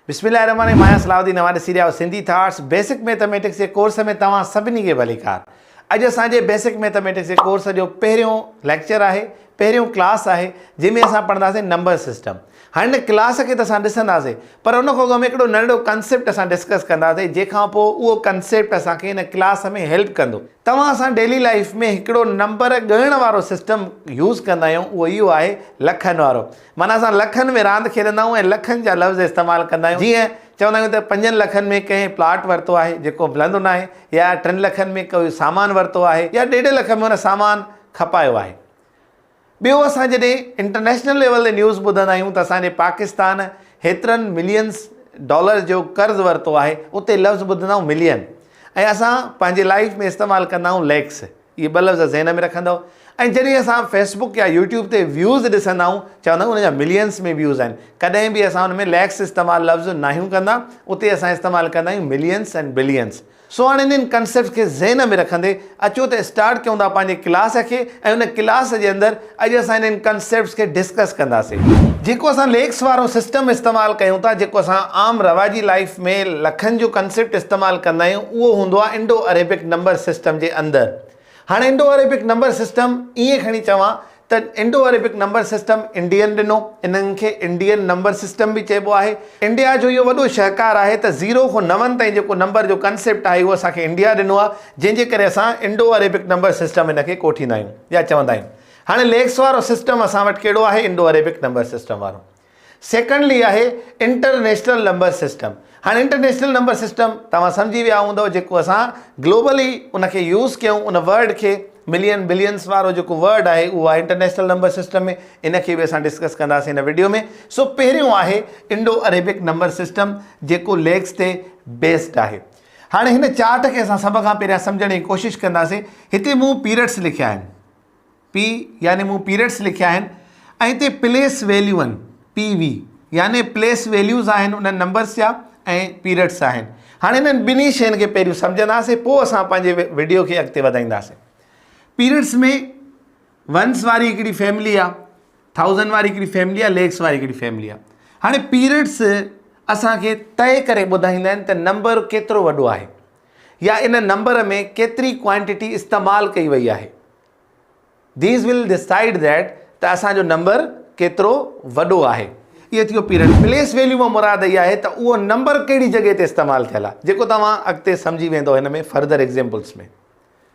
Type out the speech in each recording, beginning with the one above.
بسم الله الرحمن الرحيم آهيان صلاح الدين اوهان ڏسي رهيا آهيو سنڌي ٿاٽس بيسڪ ميٿميٽڪس جي ڪورس ۾ توهان سڀني کي ڀليڪار اڄ اسان جي بيسڪ ميٿميٽڪس جي ڪورس جو پهريون ليڪچر آهي پهريون ڪلاس آهي جنهن ۾ اسان پڙهنداسين نمبر سسٽم هاڻي هن ڪلاس کي ته اسان ڏسنداسين پر ان کان اڳ ۾ هڪڙو ننڍڙو ڪنسيپٽ اسان ڊسڪس ڪنداسين جنهن کان پوء اهو ڪنسيپٽ اسان کي هن ڪلاس ۾ هيلپ ڪندو توهان اسان ڊيلي لائف ۾ هڪڙو نمبر ڳڻڻ وارو سسٽم يوز ڪندا آهيون اهو اهو آهي لکن وارو معنيٰ اسان لکن ۾ راند کيڏندا آهيون ۽ لکن جا لفظ استعمال ڪندا آهيون جيئن چوندا آهيون ته پنجن لکن ۾ ڪنهن پلاٽ ورتو آهي جيڪو ملندو ناهي يا ٽن لکن ۾ ڪوئي سامان ورتو آهي يا ڏيڍ لک ۾ ان سامان کپايو آهي ٻيو اسان جڏهن انٽرنيشنل ليول تي نيوز ٻڌندا آهيون ته اسان جي پاڪستان هيترن ملينس ڊالر جو قرض ورتو آهي اتي لفظ ٻڌندا آهيون ملين ۽ اسان پنهنجي لائف ۾ استعمال ڪندا آهيون ليڪس اهي ٻه لفظ ذهن ۾ رکندؤ ۽ جڏهن اسان فيسبڪ يا يوٽيوب تي ويوز ڏسندا آهيون چوندا آهيون ان جا ملينس ۾ ويوز آهن ڪڏهن به اسان ان ۾ ليڪس استعمال لفظ ناهيون ڪندا اتي اسان استعمال ڪندا آهيون ملينس ۽ بلينس سو هاڻي انهن ڪنسيپٽس کي ذهن ۾ رکندي اچو ته اسٽارٽ ڪيون ٿا پنهنجي ڪلاس کي ۽ ان ڪلاس جي اندر اڄ اسان انهن ڪنسيپٽس کي ڊسڪس ڪنداسين جيڪو اسان ليڪس وارو سسٽم استعمال ڪيون ٿا جيڪو اسان عام رواجي لائيف ۾ لکن جو ڪنسيپٽ استعمال ڪندا آهيون اهو هوندو آهي انڊو عريبڪ نمبر سسٽم جي اندر هاڻي انڊو عريبڪ نمبر سسٽم ائين کڻي چوان ته Indo Arabic number system Indian ڏنو انهن کي انڊين نمبر سسٽم به چئبو آهي انڊيا جو اهو وڏو شهڪار آهي ته زيرو کون نون تائين جيڪو نمبر جو ڪنسيپٽ آهي اهو اسان کي انڊيا ڏنو آهي جنهن جي ڪري اسان انڊو عريبڪ نمبر سسٽم ان کي ڪوٺيندا آهيون. يا چوندا آهن. هاڻي ليڪس وارو سسٽم اسان وٽ ڪهڙو آهي انڊو عريبڪ نمبر سسٽم وارو. سيڪنڊلي آهي انٽرنيشنل نمبر سسٽم. هاڻي انٽرنيشنل نمبر سسٽم توهان سمجهي ويا هوندؤ جيڪو اسان گلوبلي ان کي يوز ڪيون ان ورڊ کي ملين بلينس وارو جيڪو ورڊ آهي اهو آهي انٽرنيشنل نمبر سسٽم ۾ ان کي به اسان ڊسڪس ڪنداسين هن وڊيو ۾ سو پهريون آهي انڊو عريبڪ نمبر سسٽم جيڪو ليڪس تي بيسڊ آهي. هاڻي هن چارٽ کي اسان سڀ کان پهريان سمجهڻ جي ڪوشش ڪنداسين. هتي مون پيرڊس لکيا آهن. P يعني مون پيرڊس لکيا آهن ۽ هتي پليس ويليو آهن. PV يعني پليس ويليوز آهن انهن نمبرس جا ۽ پيرڊس آهن. هاڻي انهن ٻنهي شين کي پهريون سمجهنداسين پوء اسان پنهنجي وڊيو کي اڳتي وڌائينداسين. پيرڊس ۾ ونس واري هڪڙي فيملي آ ٿائوزنڊ واري هڪڙي فيملي آ ليڪس واري هڪڙي فيملي آ هاڻي پيريڊس اسان کي طئي ڪري ٻڌائيندا آهن ته نمبر ڪيترو وڏو آهي يا ان نمبر ۾ ڪيتري ڪوانٽيٽي استعمال ڪئي وئي آهي ديز ول ڊسائيڊ ذيٽ ته اسان جو نمبر ڪيترو وڏو آهي اهو ٿيو پيريڊ پليس ويليو مان مراد اهي آهي ته اهو نمبر ڪهڙي جڳهه تي استعمال ٿيل آهي جيڪو توهان اڳتي سمجهي ويندو هن ۾ further examples ۾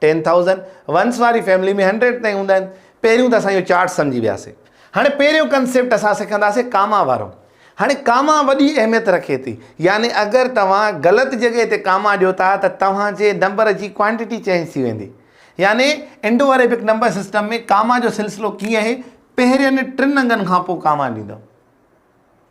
ten thousand ones واري فيملي ۾ هنڊريڊ تائين هوندا آهن. پهريون ته اسان اهو چارٽ سمجهي وياسي. هاڻي پهريون ڪنسيپٽ اسان سکنداسين ڪاما وارو. هاڻي ڪاما وڏي اهميت رکي ٿي. يعني اگر توهان غلط جڳهه تي ڪاما ڏيو ٿا ته توهان جي نمبر جي ڪوانٽيٽي چينج ٿي ويندي. يعني Indo Arabic number system ۾ comma جو سلسلو ڪيئن آهي، پهرين ٽن انگن کانپوء ڪاما ڏيندو.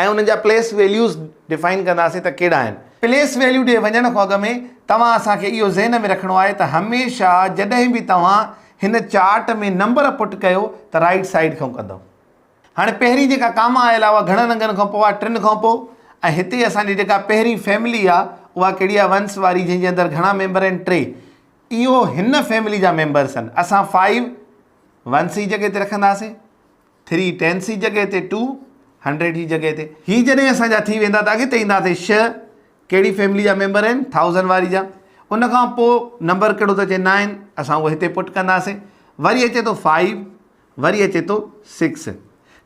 ۽ انهن جا پليس ويليوز ڊفائن ڪنداسين ته ڪهڙا آهن. پليس ويليو ڏي وڃڻ کان اڳ ۾ توهان اسان کي اهو ذهن ۾ رکڻو آهي ته هميشه جڏهن به توهان هن چارٽ ۾ نمبر پٽ ڪيو ته رائيٽ سائيڊ کان ڪندؤ. هاڻي پهرين جيڪا ڪاما آيل آهي اها گهڻن انگن کان پوء آهي، ٽن کان پوء ۽ هتي اسان جي جيڪا پهرين فيملي آهي اها ڪهڙي آهي ونس واري جنهن جي اندر گهڻا ميمبر آهن ٽي. اهو هن فيملي جا ميمبرس آهن. اسان فائيو ونس جي جڳهه تي رکنداسين. ٿري ٽينس جي جڳهه تي ٽو هنڊريڊ جي جڳهه تي. هي جڏهن اسان جا ٿي ويندا ته اڳتي اينداسي شهه ڪهڙي فيملي جا ميمبر آهن ٿائوزنڊ واري جا ان کان پوء نمبر ڪهڙو ته چئي نائن اسان اهو هتي پٽ ڪنداسي وري اچي ٿو فائيو وري اچي ٿو سڪس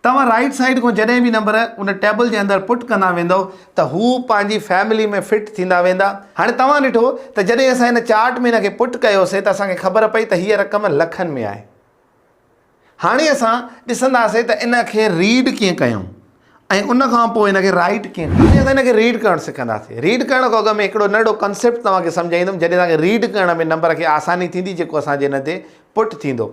توهان رائيٽ سائيڊ کان جڏهن به نمبر ان ٽيبل جي اندر پٽ ڪندا ويندو ته هو پنهنجي فيملي ۾ فٽ ٿيندا ويندا هاڻي توهان ڏٺو ته جڏهن اسان هن چارٽ ۾ ان کي پٽ ڪيوسي ته اسان کي خبر پئي ته هيء رقم لکن ۾ آهي. هاڻي اسان ڏسنداسين ته ان کي ريڊ ڪيئن ڪيون ۽ ان کان پوء ان کي رائيٽ ڪيئن ڪيون اسان ان کي ريڊ ڪرڻ سکنداسين ريڊ ڪرڻ کان اڳ ۾ هڪڙو ننڍڙو ڪنسيپٽ توهان کي سمجهائيندم جڏهن توهان کي ريڊ ڪرڻ ۾ نمبر کي آساني ٿيندي جيڪو اسان جي ان تي پٽ ٿيندو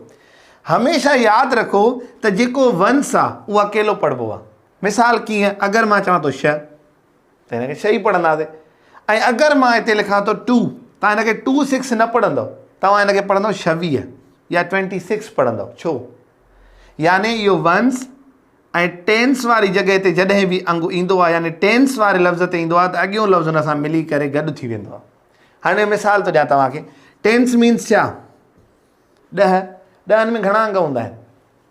هميشه ياد رکو ته جيڪو ونس آهي اهو اڪيلو پڙهبو آهي مثال ڪيئن اگر مان چوان ٿو شهه ته هن کي شئي پڙهنداسين ۽ اگر مان هتي لکان ٿو ٽو تان هن کي ٽو سڪس نه پڙهندو توهان هن کي پڙهندو شويهه يا ٽوينٽي سڪس پڙهندو ڇو يعني اهو ونس ۽ ٽينس واري جڳهه تي جڏهن به انگ ايندو آهي يعني ٽينس واري لفظ تي ايندو آهي ته اڳيو لفظ هن سان ملي ڪري گڏ ٿي ويندو آهي هاڻي مثال ٿو ڏيان توهان کي ٽينس مينس ڇا ڏهه ڏهن ۾ گهڻا انگ هوندا آهن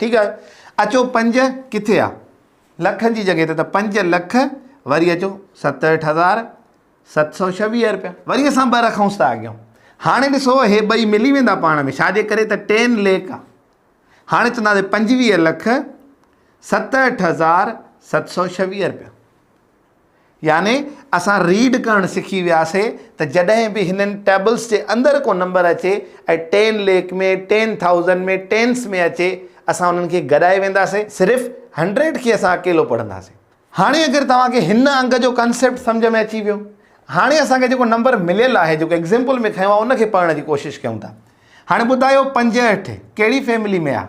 ٺيڪ آهي اچو پنج ڪٿي آ لکن جي جڳهه تي ته پنج لک وري اچو ستهٺ هزار ست سو ڇويهه روپيا وري اسان ٻه رکونس ٿا اڳيون هاڻي ڏسو هي ٻئي ملي ويندا پاڻ ۾ ڇاجي ڪري ته ٽين ليک آ هاڻي چونداسي پنجويهه لک ستهٺ هزار ست سو ڇويهه روپيا يعني اسان ريڊ ڪرڻ سکي وياسي ته جڏهن به هنن ٽيبلس جي اندر ڪو نمبر اچي ۽ ten lakh ۾ ten thousand ۾ tens ۾ اچي اسان انهن کي گڏائي وينداسي صرف هنڊريڊ کي اسان اڪيلو پڙهنداسي. هاڻي اگر توهان کي هن انگ جو ڪانسيپٽ سمجهه ۾ اچي ويو هاڻي اسان کي جيڪو نمبر مليل آهي جيڪو ايگزيمپل ۾ کنيو آهي ان کي پڙهڻ جي ڪوشش ڪيون ٿا هاڻي ٻڌايو پنجهٺ ڪهڙي فيملي ۾ آهي.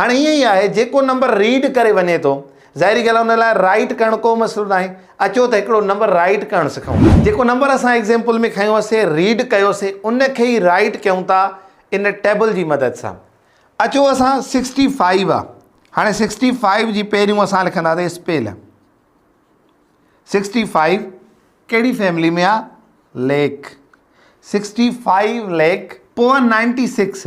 هاڻي ائين ئي آهي جيڪو نمبر ريڊ ڪري وڃي ٿو ظاهري ڳالهه ان لاء رائيٽ ڪرڻ ڪو مسئلو ناهي اچو ته هڪڙو نمبر رائيٽ ڪرڻ سکون ٿا جيڪو نمبر اسان ايگزيمپل ۾ کنيو هوسي ريڊ ڪيو سي ان کي ئي رائيٽ ڪيون ٿا ان ٽيبل جي مدد سان اچو اسان سڪسٽي فائيو آ هاڻي سڪسٽي فائيو جي پهريون اسان لکندا سي اسپيل سڪسٽي فائيو ڪهڙي فيملي ۾ آ ليڪ سڪسٽي فائيو ليڪ پوء نائنٽي سڪس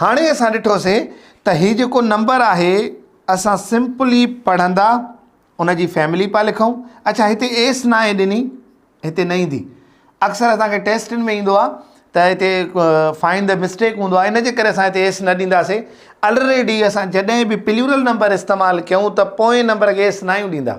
هاڻي اسان ڏٺوسين ته هي جيڪو نمبر آهي اسان سمپلي پڙهندا ان جي فيملي پيا لکون اڇا هتي ايس ناهي ڏني هتي نه ايندي اڪثر اسان کي ٽيسٽن ۾ ايندو آهي ته هتي فائن د مسٽيڪ هوندو آهي ان جي ڪري اسان هتي ايس نه ڏينداسي الريڊي اسان جڏهن به پليورل نمبر استعمال ڪيون ته پوئين نمبر کي ايس ناهيون ڏيندا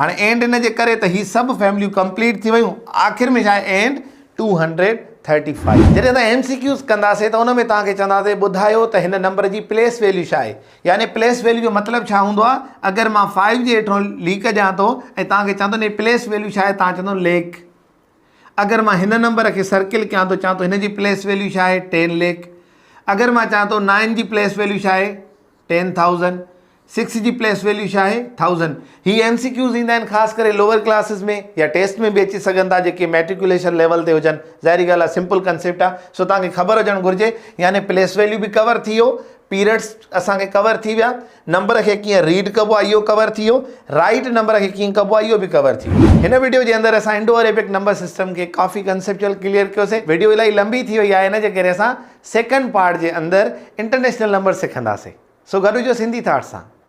هاڻي اينڊ ان جي ڪري ته هي سڀ فيمليون ڪمپليٽ ٿي ويون آخر ۾ ڇا and two hundred thirty five جڏهن اسان ايم سي ڪيوز ڪنداسين ته ان ۾ توهان کي چونداسين ٻڌايو ته هن نمبر جي پليس ويليو ڇا آهي يعني پليس ويليو جو مطلب ڇا هوندو آهي اگر مان فائيو جي هيٺو ليڪ ڏيان ٿو ۽ توهان کي چوان ٿو هي پليس ويليو ڇا آهي توهان چوندو ليڪ اگر مان هن نمبر کي سرڪل ڪيان ٿو چوان ٿو هن جي پليس ويليو ڇا آهي ٽين ليڪ اگر مان چوان ٿو نائن جي پليس ويليو ڇا آهي ٽين ٿائوزنڊ، سڪس جي پليس ويليو ڇا آهي؟ ٿائوزنڊ. هي ايم سي ڪيوز ايندا آهن خاص ڪري لوور ڪلاسز ۾ يا ٽيسٽ ۾ به اچي سگهن ٿا جيڪي ميٽريڪوليشن ليول تي هجن ظاهري ڳالهه آهي سمپل ڪنسيپٽ آهي سو توهان کي خبر هجڻ گهرجي يعني پليس ويليو به ڪور ٿي ويو پيريڊس اسان کي ڪور ٿي ويا نمبر کي ڪيئن ريڊ ڪبو آهي اهو ڪور ٿي ويو رائيٽ نمبر کي ڪيئن ڪبو آهي اهو به ڪور ٿي ويو هن ويڊيو جي اندر اسان انڊو اريبڪ نمبر سسٽم کي ڪافي ڪنسيپچوئل ڪليئر ڪيوسي ويڊيو الائي لمبي ٿي وئي آهي ان جي ڪري اسان سيڪنڊ پارٽ جي اندر انٽرنيشنل نمبر سکنداسين سو گڏ هجو سنڌي ٿاٽس سان.